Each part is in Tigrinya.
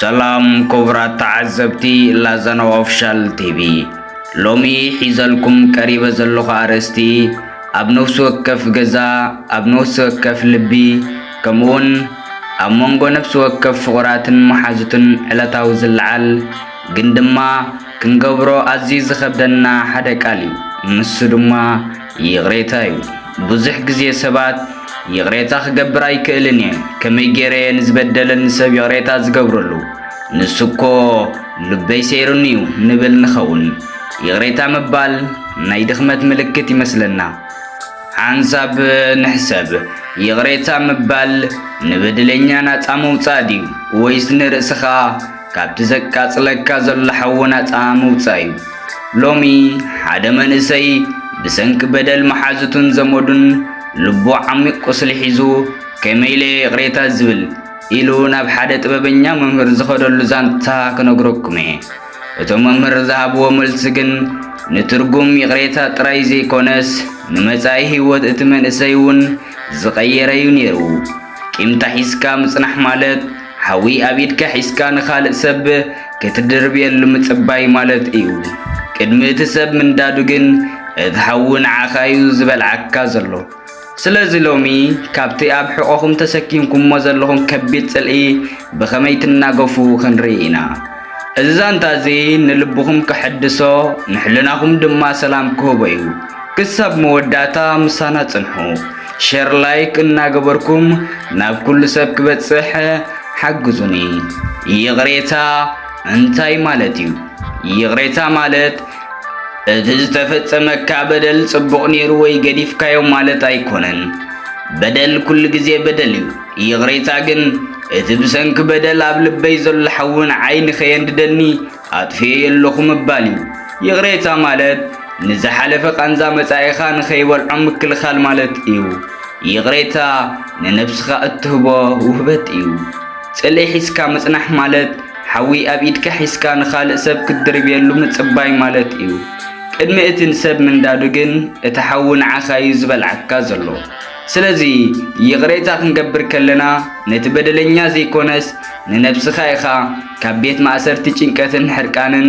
ሰላም ክቡራት ተዓዘብቲ ላዛና ኦፊሻል ቲቪ፣ ሎሚ ሒዘልኩም ቀሪበ ዘለኹ ኣርእስቲ ኣብ ነፍሲ ወከፍ ገዛ፣ ኣብ ነፍሲ ወከፍ ልቢ፣ ከምኡውን ኣብ መንጎ ነፍሲ ወከፍ ፍቑራትን መሓዙትን ዕለታዊ ዝለዓል ግን ድማ ክንገብሮ ኣዝዩ ዝኸብደና ሓደ ቃል እዩ። ንሱ ድማ ይቕሬታ እዩ። ብዙሕ ግዜ ሰባት ይቕሬታ ክገብር ኣይክእልን እየ፣ ከመይ ገይረ እየ ንዝበደለኒ ሰብ ይቕሬታ ዝገብረሉ? ንሱ እኮ ልበይ ሰይሩኒ እዩ ንብል ንኸውን። ይቕሬታ ምባል ናይ ድኽመት ምልክት ይመስለና። ሓንሳብ ንሕሰብ፣ ይቕሬታ ምባል ንበደለኛ ናጻ ምውጻእ ድዩ ወይስ ንርእስኻ ካብቲ ዘቃጽለካ ዘሎ ሓዊ ናጻ ምውጻእ እዩ። ሎሚ ሓደ መንእሰይ ብሰንኪ በደል መሓዙቱን ዘመዱን ልቡ ዓሚቕ ቁስሊ ሒዙ ከመይ ኢለ ይቕሬታ ዝብል ኢሉ ናብ ሓደ ጥበበኛ መምህር ዝኸደሉ ዛንታ ክነግረኩም እየ። እቶም መምህር ዝሃብዎ መልሲ ግን ንትርጉም ይቕሬታ ጥራይ ዘይኮነስ ንመጻኢ ህይወት እቲ መንእሰይ እውን ዝቐየረ'ዩ ኔሩ። ቂምታ ሒዝካ ምጽናሕ ማለት ሓዊ ኣብ ኢድካ ሒዝካ ንኻልእ ሰብ ክትድርብየሉ ምጽባይ ማለት እዩ። ቅድሚ እቲ ሰብ ምንዳዱ ግን እቲ ሓዊ ንዓኻ'ዩ ዝበልዓካ ዘሎ። ስለዚ ሎሚ ካብቲ ኣብ ሕቖኹም ተሰኪምኩሞ ዘለኹም ከቢድ ጽልኢ ብኸመይ ትናገፉ ክንርኢ ኢና። እዚ ዛንታ እዚ ንልብኹም ከሐድሶ ንሕልናኹም ድማ ሰላም ክህቦ እዩ። ክሳብ መወዳእታ ምሳና ጽንሑ። ሼር ላይክ እናገበርኩም ናብ ኩሉ ሰብ ክበጽሕ ሓግዙኒ። ይቕሬታ እንታይ ማለት እዩ? ይቕሬታ ማለት እቲ ዝተፈጸመካ በደል ጽቡቕ ነይሩ ወይ ገዲፍካዮ ማለት ኣይኮነን። በደል ኩሉ ግዜ በደል እዩ። ይቕሬታ ግን እቲ ብሰንኪ በደል ኣብ ልበይ ዘሎ ሓዊ ንዓይ ንኸየንድደኒ ኣጥፍኤዮ ኣለኹ ምባል እዩ። ይቕሬታ ማለት ንዝሓለፈ ቃንዛ መጻኢኻ ንኸይበልዖ ምክልኻል ማለት እዩ። ይቕሬታ ንነብስኻ እትህቦ ውህበት እዩ። ጽልኢ ሒዝካ ምጽናሕ ማለት ሓዊ ኣብ ኢድካ ሒዝካ ንኻልእ ሰብ ክትድርብየሉ ምጽባይ ማለት እዩ። ቅድሚ እቲ ንሰብ ምንዳዱ ግን እቲ ሓዊ ንዓኻ እዩ ዝበልዓካ ዘሎ። ስለዚ ይቕሬታ ክንገብር ከለና ነቲ በደለኛ ዘይኮነስ ንነብስኻ ኢኻ ካብ ቤት ማእሰርቲ ጭንቀትን ሕርቃንን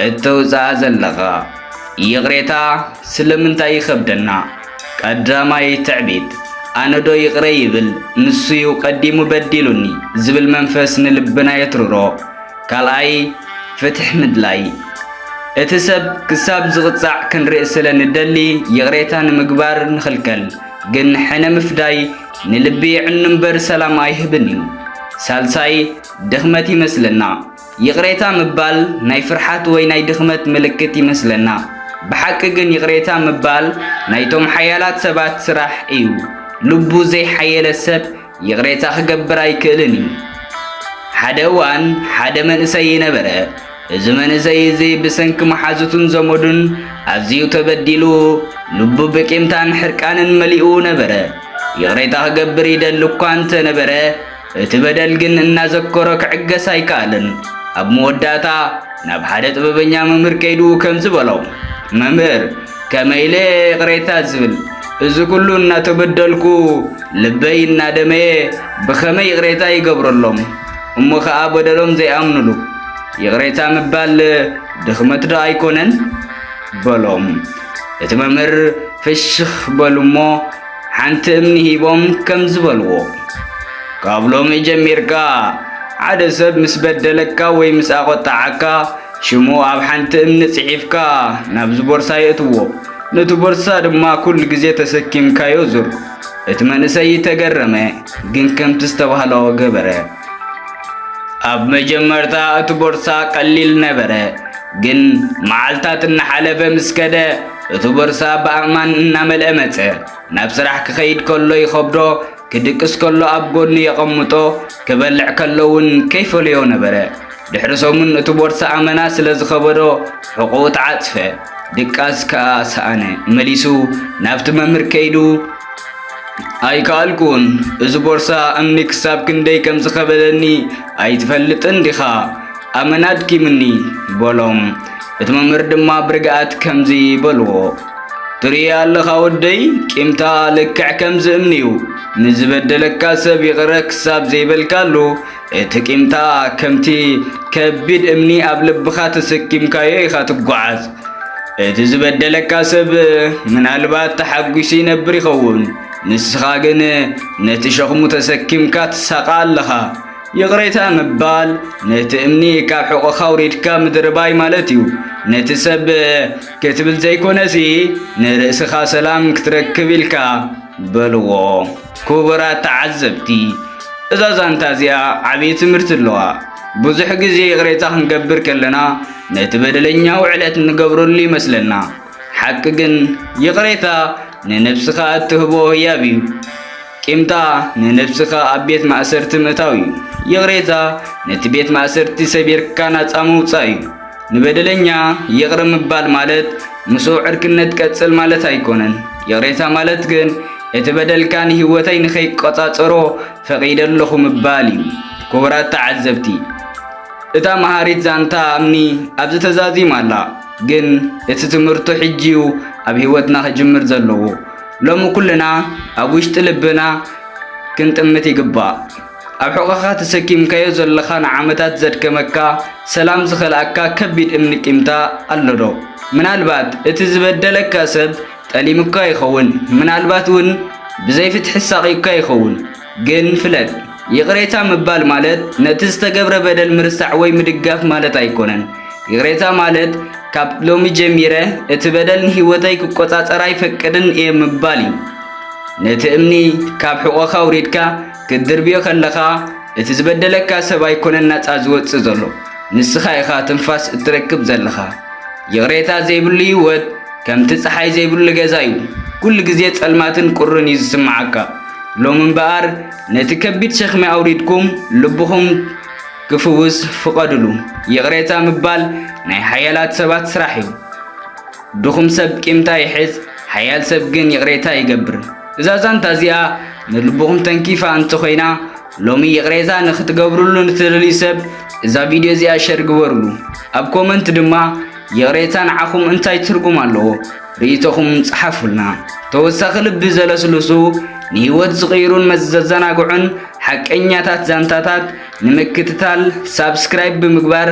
እተውጽኣ ዘለኻ። ይቕሬታ ስለምንታይ ይኸብደና? ቀዳማይ ትዕቢት፣ ኣነዶ ይቕረ ይብል ንሱ'ዩ ቀዲሙ በዲሉኒ ዝብል መንፈስ ንልብና የትርሮ። ካልኣይ፣ ፍትሕ ምድላይ። እቲ ሰብ ክሳብ ዝቕጻዕ ክንርኢ ስለ ንደሊ ይቕሬታ ንምግባር ንኽልከል፣ ግን ሕነ ምፍዳይ ንልቢ የዕኑ እምበር ሰላም ኣይህብን እዩ። ሳልሳይ፣ ድኽመት ይመስለና። ይቕሬታ ምባል ናይ ፍርሓት ወይ ናይ ድኽመት ምልክት ይመስለና። ብሓቂ ግን ይቕሬታ ምባል ናይቶም ሓያላት ሰባት ስራሕ እዩ። ልቡ ዘይሓየለ ሰብ ይቕሬታ ክገብር ኣይክእልን እዩ። ሓደ እዋን ሓደ መንእሰይ ነበረ። እዚ መንእሰይ እዚ ብሰንኪ መሓዙቱን ዘመዱን ኣዝዩ ተበዲሉ ልቡ ብቂምታን ሕርቃንን መሊኡ ነበረ። ይቕሬታ ክገብር ይደሊ እኳ እንተ ነበረ እቲ በደል ግን እናዘከሮ ክዕገስ ኣይከኣልን። ኣብ መወዳእታ ናብ ሓደ ጥበበኛ መምህር ከይዱ ከምዚ በሎ፣ መምህር ከመይ ኢለ እየ ይቕሬታ ዝብል? እዚ ኩሉ እናተበደልኩ ልበይ እናደመየ ብኸመይ ይቕሬታ ይገብረሎም? እሞ ኸኣ በደሎም ዘይኣምኑሉ ይቕሬታ ምባል ድኽመት ዶ ኣይኮነን? በሎም። እቲ መምህር ፍሽኽ በሉ እሞ ሓንቲ እምኒ ሂቦም ከም ዝበልዎ ካብ ሎሚ ጀሚርካ ሓደ ሰብ ምስ በደለካ ወይ ምስ ኣቖጣዓካ ሽሙ ኣብ ሓንቲ እምኒ ጽሒፍካ ናብዚ ቦርሳ የእትዎ ነቲ ቦርሳ ድማ ኩሉ ግዜ ተሰኪምካዮ ዙር እቲ መንእሰይ ተገረመ ግን ከምቲ ዝተባህሎ ገበረ ኣብ መጀመርታ እቲ ቦርሳ ቀሊል ነበረ፣ ግን መዓልታት እናሓለፈ ምስ ከደ እቲ ቦርሳ ብኣእማን እናመልአ መጸ። ናብ ስራሕ ክኸይድ ከሎ ይኸብዶ፣ ክድቅስ ከሎ ኣብ ጎኑ የቐምጦ፣ ክበልዕ ከሎ እውን ከይፈለዮ ነበረ። ድሕሪ ሰሙን እቲ ቦርሳ ኣመና ስለ ዝኸበዶ ሕቖኡ ተዓጽፈ። ድቃስ ከኣ ሰኣነ። መሊሱ ናብቲ መምህር ከይዱ ኣይከኣልኩን፣ እዚ ቦርሳ እምኒ ክሳብ ክንደይ ከም ዝኸበደኒ ኣይትፈልጥን ዲኻ? ኣመና ኣድኪምኒ በሎም። እቲ መምህር ድማ ብርግኣት ከምዚ በልዎ፣ ትርኢ ኣለኻ ወደይ፣ ቂምታ ልክዕ ከምዚ እምኒ እዩ። ንዝበደለካ ሰብ ይቕረ ክሳብ ዘይበልካሉ እቲ ቂምታ ከምቲ ከቢድ እምኒ ኣብ ልብኻ ተሰኪምካዮ ኢኻ ትጓዓዝ። እቲ ዝበደለካ ሰብ ምናልባት ተሓጒሱ ይነብር ይኸውን፣ ንስኻ ግን ነቲ ሸኽሙ ተሰኪምካ ትሳቐ ኣለኻ። ይቕሬታ ምባል ነቲ እምኒ ካብ ሕቖኻ ውሪድካ ምድርባይ ማለት እዩ። ነቲ ሰብ ክትብል ዘይኮነሲ ንርእስኻ ሰላም ክትረክብ ኢልካ በልዎ። ክቡራት ተዓዘብቲ እዛ ዛንታ እዚኣ ዓብዪ ትምህርቲ ኣለዋ። ብዙሕ ግዜ ይቕሬታ ክንገብር ከለና ነቲ በደለኛ ውዕለት እንገብረሉ ይመስለና። ሓቂ ግን ይቕሬታ ንነብስኻ እትህቦ ህያብ እዩ። ቂምታ ንነብስኻ ኣብ ቤት ማእሰርቲ ምእታው እዩ። ይቕሬታ ነቲ ቤት ማእሰርቲ ሰቢርካ ናጻ ምውጻእ እዩ። ንበደለኛ ይቕረ ምባል ማለት ምስኡ ዕርክነት ቀጽል ማለት ኣይኮነን። ይቕሬታ ማለት ግን እቲ በደልካ ንህይወተይ ንኸይቆጻጸሮ ፈቒደ ኣለኹ ምባል እዩ። ክቡራት ተዓዘብቲ፣ እታ መሃሪት ዛንታ እምኒ ኣብዚ ተዛዚማ ኣላ። ግን እቲ ትምህርቱ ሕጂ እዩ ኣብ ህይወትና ክጅምር ዘለዎ። ሎሚ ኩልና ኣብ ውሽጢ ልብና ክንጥምት ይግባእ። ኣብ ሕቖኻ ተሰኪምካዮ ዘለኻ ንዓመታት ዘድከመካ፣ ሰላም ዝኸልኣካ ከቢድ እምኒ ቂምታ ኣሎዶ? ምናልባት እቲ ዝበደለካ ሰብ ጠሊሙካ ይኸውን፣ ምናልባት እውን ብዘይ ፍትሒ ኣሳቕዩካ ይኸውን። ግን ፍለጥ፣ ይቕሬታ ምባል ማለት ነቲ ዝተገብረ በደል ምርሳዕ ወይ ምድጋፍ ማለት ኣይኮነን። ይቕሬታ ማለት ካብ ሎሚ ጀሚረ እቲ በደል ንህይወተይ ክቆጻጸር ኣይፈቅድን እየ ምባል እዩ። ነቲ እምኒ ካብ ሕቖኻ ኣውሪድካ ክትድርብዮ ከለኻ እቲ ዝበደለካ ሰብ ኣይኮነን ናጻ ዝወጽእ ዘሎ፣ ንስኻ ኢኻ ትንፋስ እትረክብ ዘለኻ። ይቕሬታ ዘይብሉ ህይወት ከምቲ ጸሓይ ዘይብሉ ገዛ እዩ፣ ኩሉ ግዜ ጸልማትን ቁርን እዩ ዝስምዓካ። ሎሚ እምበኣር ነቲ ከቢድ ሸኽሚ ኣውሪድኩም ልብኹም ክፍውስ ፍቐድሉ። ይቕሬታ ምባል ናይ ሓያላት ሰባት ስራሕ እዩ። ድኹም ሰብ ቂምታ ይሕዝ፣ ሓያል ሰብ ግን ይቕሬታ ይገብር። እዛ ዛንታ እዚኣ ንልብኹም ተንኪፋ እንተኾይና፣ ሎሚ ይቕሬታ ንኽትገብርሉ ንትደልዩ ሰብ እዛ ቪድዮ እዚኣ ሸር ግበርሉ። ኣብ ኮመንት ድማ ይቕሬታ ንዓኹም እንታይ ትርጉም ኣለዎ? ርእይቶኹም ጸሓፉልና። ተወሳኺ ልቢ ዘለስልሱ ንህይወት ዝቕይሩን መዘዘናግዑን ሓቀኛታት ዛንታታት ንምክትታል ሳብስክራይብ ብምግባር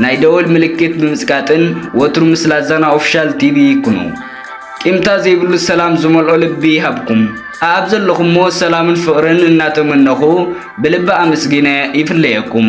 ናይ ደወል ምልክት ብምጽቃጥን ወትሩ ምስ ላዛና ኦፊሻል ቲቪ ይኩኑ። ቂምታ ዘይብሉ ሰላም ዝመልኦ ልቢ ይሃብኩም። ኣኣብ ዘለኹሞ ሰላምን ፍቕርን እናተመነኹ ብልቢ ኣመስጊነ ይፍለየኩም።